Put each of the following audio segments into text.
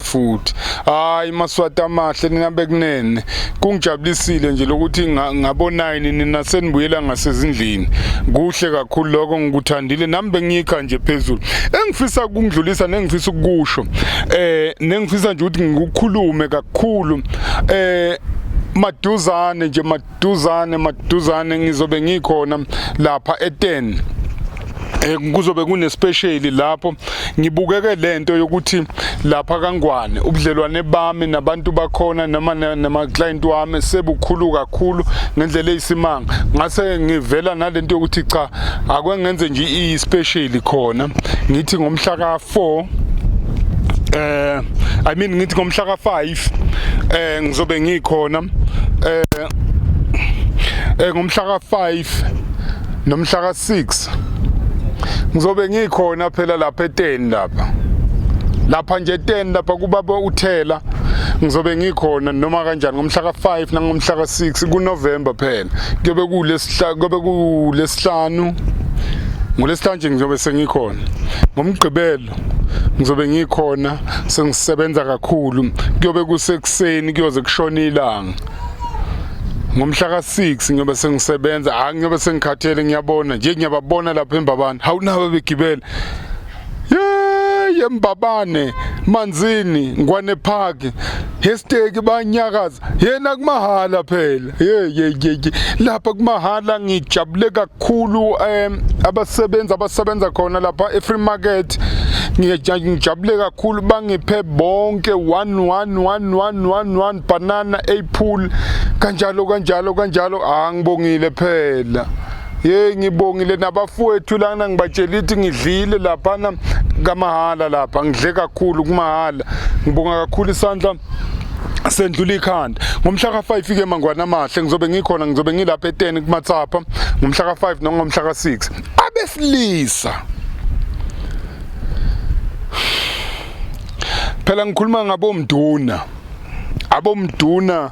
futhi hayi maswati amahle nina bekunene kungijabulisile nje lokuthi ngabonayini nina senibuyela ngasezindlini kuhle kakhulu lokho ngikuthandile nami bengiyikha nje phezulu engifisa ukungidlulisa nengifisa ukusho eh nengifisa nje ukuthi ngikukhulume kakhulu eh maduzane nje duzane maduzane ngizobe ngikhona lapha e-10 Eh, kuzobe kunespecial lapho ngibukeke lento yokuthi lapha kangwane ubudlelwane bami nabantu bakhona noma nama client wami sebukhulu kakhulu ngendlela eyisimanga ngase ngivela nalento yokuthi cha akwengenze nje i special khona ngithi ngomhla ka 4 eh i mean ngithi ngomhla ka 5 Life eh ngizobe ngikhona eh, eh ngomhla ka 5 nomhla ka 6 ngizobe ngikhona phela lapha eteni lapha lapha nje eteni lapha kubaba uthela ngizobe ngikhona noma kanjani ngomhla ka-5 nangomhla ka-6 kunovemba phela kuyobe kulesihlanu ngolesihlanu nje ngizobe sengikhona ngomgqibelo imoto ngizobe ngikhona sengisebenza kakhulu kuyobe kusekuseni kuyoze kushona ilanga ngomhla ka-6 ngiyobe sengisebenza hayi ngiyobe sengikhathele ngiyabona nje ngiyababona lapho embabane hawu nabo begibela yembabane manzini ngwane park hesteki banyakaza yena kumahhala phela Hey hey hey lapha kumahala ngijabule kakhulu um abasebenzi abasebenza khona lapha e-free market ngijabule kakhulu bangiphe bonke one one one one one one banana apple kanjalo kanjalo kanjalo ah ngibongile phela ye ngibongile nabafowethu lana ngibatshela ithi ngidlile laphana kamahala lapha ngidle kakhulu kumahala ngibonga kakhulu isandla sendlula ikhanda ngomhla ka-5 ike mangwana amahle ngizobe ngikhona ngizobe ngilapha eteni kumatsapha ngomhla ka-5 nongomhla ka-6 abesilisa phela ngikhuluma ngabomduna abomduna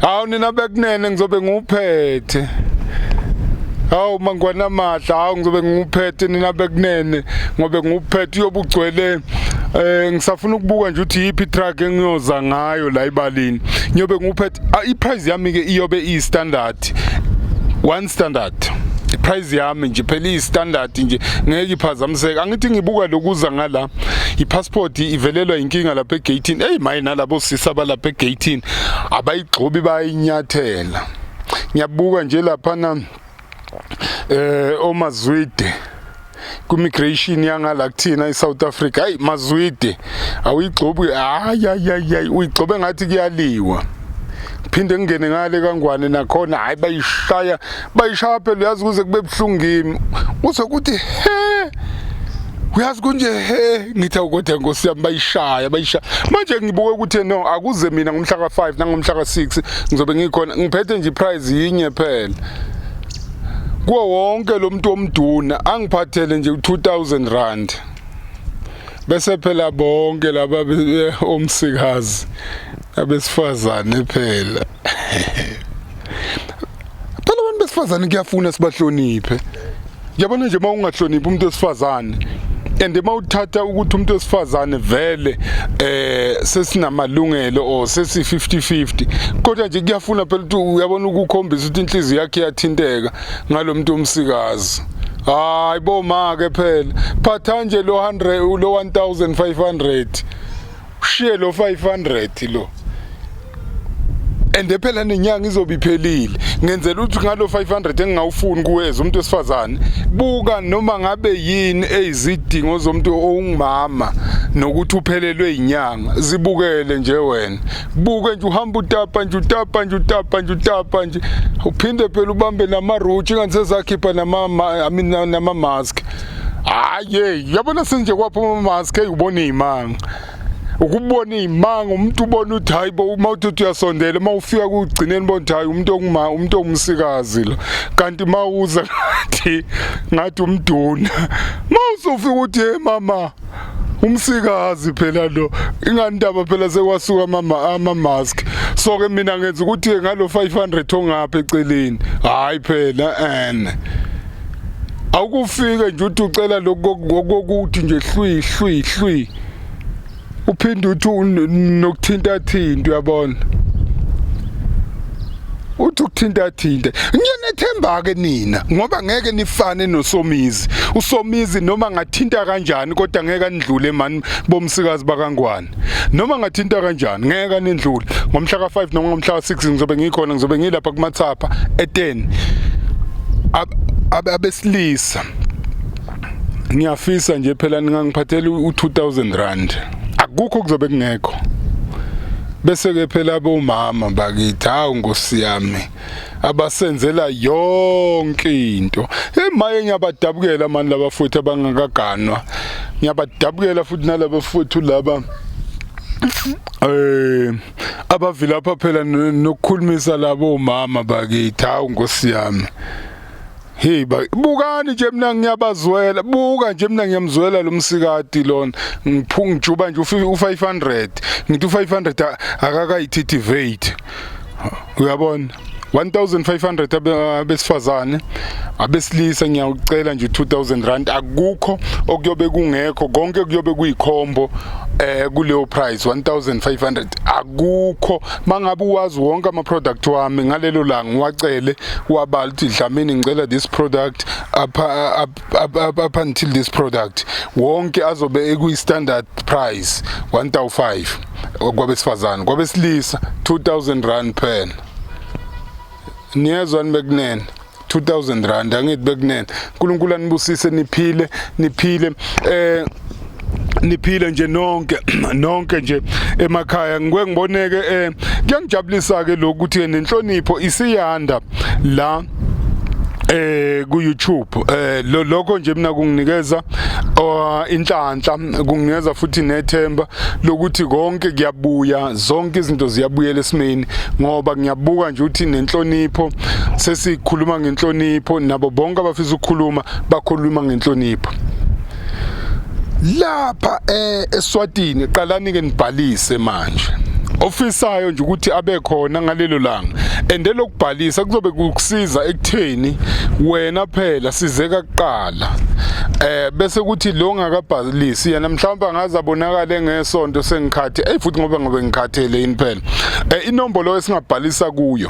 hawu nina bekunene ngizobe ngiwuphethe hawu mangwana madla hawu ngizobe ngiwuphethe nina bekunene ngobe ngiwuphethe uyobe ugcwele eh ngisafuna ukubuka nje ukuthi yipi truck engiyoza ngayo la ibalini ngiyobe nguphethe ah, i price yami ke iyobe i standard one standard price yami nje phela i standard nje ngeke iphazamiseke angithi ngibuka lokuza ngala i passport ivelelwa inkinga lapha egatini hey maye nalabo sisa balapha egatini abayigxobi bayinyathela ngiyabuka nje laphana eh omazwide kumigration yangala kuthina eSouth Africa hayi mazwide awuyigxobi hayi hayi uyigxobe ngathi kuyaliwa phinde ngingene ngale kangwane nakhona hayi bayishaya bayishaya phela uyazi kuze kube buhlungu kimi uze kuthi he uyazi kunje he ngithi awukodwa nkosi yami bayishaya bayishaya manje ngibuke ukuthi no akuze mina ngomhla ka-5 nangomhla ka-6 ngizobe ngikhona ngiphethe nje iprize yinye phela kuwo wonke lo muntu omduna angiphathele nje u-2000 rand bese phela bonke laba omsikazi abesifazane phela phela abantu besifazane kuyafuna sibahloniphe yabona nje uma ungahloniphi umuntu wesifazane and uma uthatha ukuthi umuntu wesifazane vele eh sesinamalungelo or sesi 50-50 kodwa nje kuyafuna phela ukuthi uyabona ukukhombisa ukuthi inhliziyo yakhe iyathinteka ngalomuntu omsikazi hayi bo ma ke phela phatha nje lo 100 lo 1500 ushiye lo 500 lo ende phela nenyanga izobe iphelile ngenzela ukuthi ngalo 500 engingawufuni kuweza umuntu wesifazane buka noma ngabe yini ezidingo zomuntu ongumama nokuthi uphelelwe inyanga zibukele nje wena buke nje uhamba utapa nje utapa nje utapa nje utapa nje uphinde phela ubambe nama roach ingathi sezakhipha nama I mean nama mask hayi yabona sinje kwaphuma umaske ubona iy'manga ukubona iy'manga umuntu ubona ukuthi hhayi bo uma uthi uthi uyasondela uma ufika kugcineni bona ukuthi hhayi umuntu onguma umuntu ongumsikazi lo kanti uma uza ngathi ngathi umduna uma usufika ukuthi ye mama umsikazi phela lo ingandaba phela sekwasuka mama ama mask so ke mina ngenza ukuthi ngalo 500 ongapha eceleni hayi phela ene awukufike nje uthi ucela lokokuthi nje hlwi hlwi hlwi uphinde uthi nokuthinta thinta uyabona uthi ukuthinta thinta ngiyanethemba ke nina ngoba ngeke nifane nosomizi usomizi noma ngathinta kanjani kodwa ngeke anidlule mani bomsikazi bakangwane noma ngathinta kanjani ngeke anendlule ngomhla ka5 noma ngomhla ka6 ngizobe ngikhona ngizobe ngilapha kumathapha e10 abesilisa ngiyafisa nje phela ningangiphathela u2000 rand akukho kuzobe kungekho bese ke phela bomama bakithi hawu nkosi yami abasenzela yonke into emaye ngiyabadabukela mani laba futhi abangakaganwa ngiyabadabukela futhi nalaba futhi laba eh abavilapha phela nokukhulumisa labo mama bakithi hawu nkosi yami Hey bukani nje mina ngiyabazwela buka nje mina ngiyamzwela lo msikati lona ngiphunga ngijuba nje u500 ngithi u500 akakayithitivate uyabona 1500 abesifazane abesilisa ngiyawucela nje 2000 rand akukho okuyobe kungekho konke kuyobe kuyikhombo eh kuleyo price 1500 akukho mangabe uwazi wonke ama product wami ngalelo la ngiwacele wabala ukuthi dlamini ngicela this product up, up, up, up, up until this product wonke azobe ekuyi standard price 1005 kwabesifazane kwabesilisa 2000 rand pen niyezwa nibekunene 2000 rand angithi bekunene uNkulunkulu anibusise niphile niphile eh niphile nje nonke nonke nje emakhaya ngike ngiboneke eh kuyangijabulisa ke lokuthi nenhlonipho isiyanda la eh ku YouTube eh lokho nje mina kunginikeza oh, inhlanhla kunginikeza futhi nethemba lokuthi konke kuyabuya zonke izinto ziyabuyela esimeni ngoba ngiyabuka nje ukuthi nenhlonipho sesikhuluma ngenhlonipho nabo bonke abafisa ukukhuluma bakhuluma ngenhlonipho lapha eh, eSwatini qalani ke nibhalise manje ofisayo nje ukuthi abe khona ngalelo langa ende lokubhalisa kuzobe kukusiza ekutheni wena phela sizeka kuqala eh bese kuthi lo ngakabhalisi yena mhlawumbe angaza bonakala ngesonto sengikhathi hey futhi ngoba ngobe ngikhathele yini phela eh inombolo esingabhalisa kuyo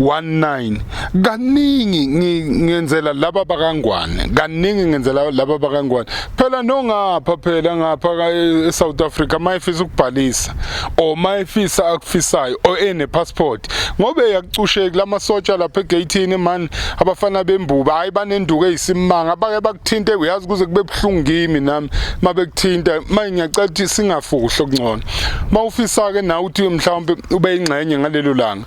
19 kaningi ngenzela laba bakangwane kaningi ngenzela laba bakangwane phela nongapha phela ngapha e, e South Africa mayifisa ukubhalisa or mayifisa akufisayo or ene passport ngobe yakucusheki lamasotsha lapha egatini man abafana bembuba hayi banenduku eyisimanga abake bakuthinte uyazi kuze kube buhlungu kimi nami mabekuthinta manje ngiyacela ukuthi singafuhlo kungcono mawufisa ke nawe uthi mhlawumbe ube ingxenye ngalelo langa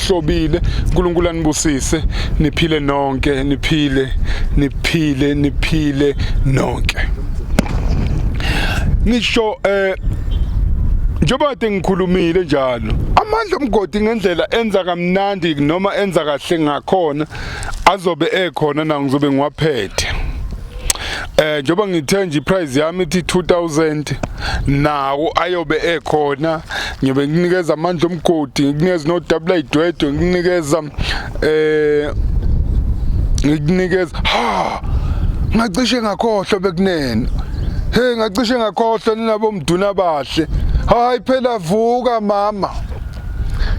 hlobile uNkulunkulu anibusise niphile nonke niphile niphile niphile nonke ngisho eh njengoba kade ngikhulumile njalo amandla omgodi ngendlela enza kamnandi noma enza kahle ngakhona azobe ekhona na ngizobe ngiwaphethe eh njoba ngithe nje price yami ithi 2000 nawo ayobe ekhona ngibe nginikeza amandla omgodi nginikeza no double idwedwe nginikeza eh ngikunikeza ha ngacishe ngakhohlwa bekunene hey ngacishe ngakhohlwa ninabo mduna bahle hayi phela vuka mama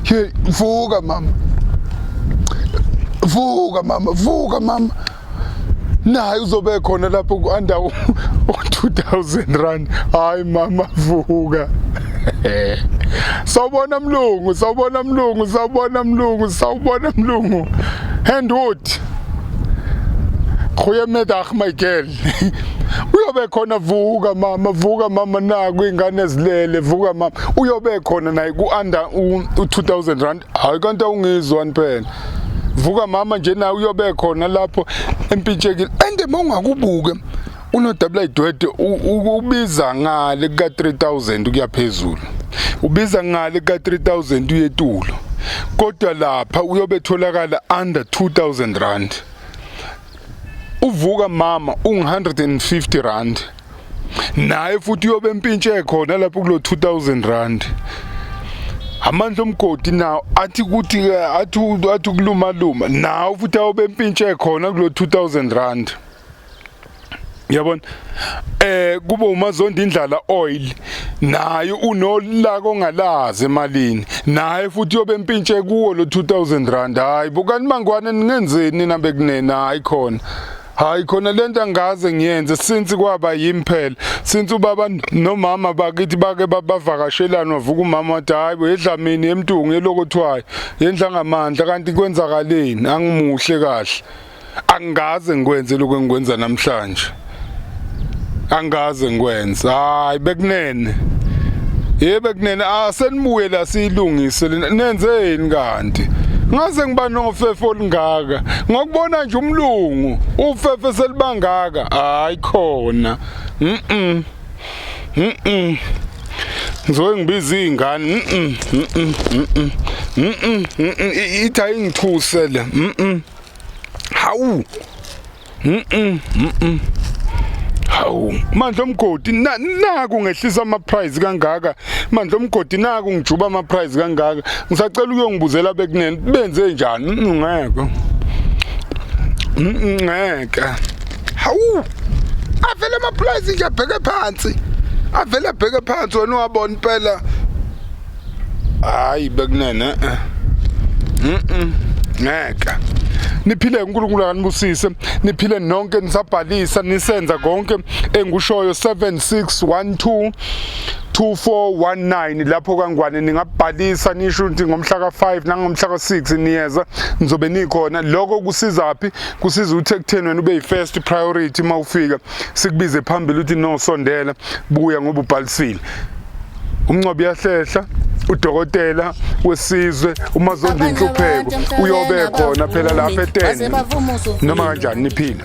hey vuka mama vuka mama vuka mama naye uzobe khona lapho ku-under u-2000 rand hayi mama vuka sawubona mlungu sawubona mlungu sawubona mlungu sawubona mlungu handwood goeiemiddag my girl uyobe khona vuka mama vuka mama naku ingane zilele vuka mama uyobe khona naye ku-under u-2000 rand hayi kanti awungizwani phela vuka mama nje naye uyobe khona lapho empintshekile and uma ungakubuke unodabula idwede ubiza ngale kuka-3000 ukuya phezulu ubiza ngale kuka-3000 uyetulo kodwa lapha uyobe etholakala under 2000 rand uvuka mama ungu-150 rand naye futhi uyobe empintshe khona lapho kulo 2000 rand amandla omgodi nawo athi ukuthi athi athi kuluma luma nawo futhi awobe empintshe khona kulo 2000 rand yabona eh kube umazondi indlala oil naye unolaka ongalazi emalini naye futhi yobe empintshe kuwo lo 2000 rand hayi bukani mangwane ningenzeni nambe kunena hayi khona hayi khona lento angaze ngiyenze since kwaba yimi phela since ubaba nomama bakithi bake babavakashelana wavuka umama wathi hayi bo yedlamini emtungu yelokothwayo yendla ngamandla kanti kwenzakaleni angimuhle kahle angikaze ngikwenze lokho engikwenza namhlanje angikaze ngikwenze hayi bekunene yebe kunene asenibuye la siyilungise nenzeni kanti ngaze ngiba nofefo olungaka ngokubona nje umlungu ufefe selibangaka hayi khona mhm mhm ngizoke ngibiza izingane mhm mhm mhm mhm ithi ayingithuse le mhm hawu mhm mhm hawu mandla omgodi naku ngehlisa ama price kangaka mandla omgodi naku ngijuba ama price kangaka ngisacela ukuyongibuzela bekunene benze njani ngeke ngeke hawu avele ama price nje abheke phansi avele abheke phansi wena wabona impela hayi bekunene eh. mhm ngeke niphile uNkulunkulu akanibusise niphile nonke nisabhalisa nisenza konke engikushoyo 7612 2419 lapho kangwane ningabhalisa nisho ukuthi ngomhla ka5 nangomhla ka6 niyeza nizobe nikhona lokho kusiza phi kusiza ukuthi ekutheni wena ube yifirst priority mawufika sikubize phambili ukuthi no sondela buya ngoba ubhalisile umncobo uyahlehla udokotela wesizwe uma zonda inhlupheko uyobe khona phela lapha etende noma kanjani niphila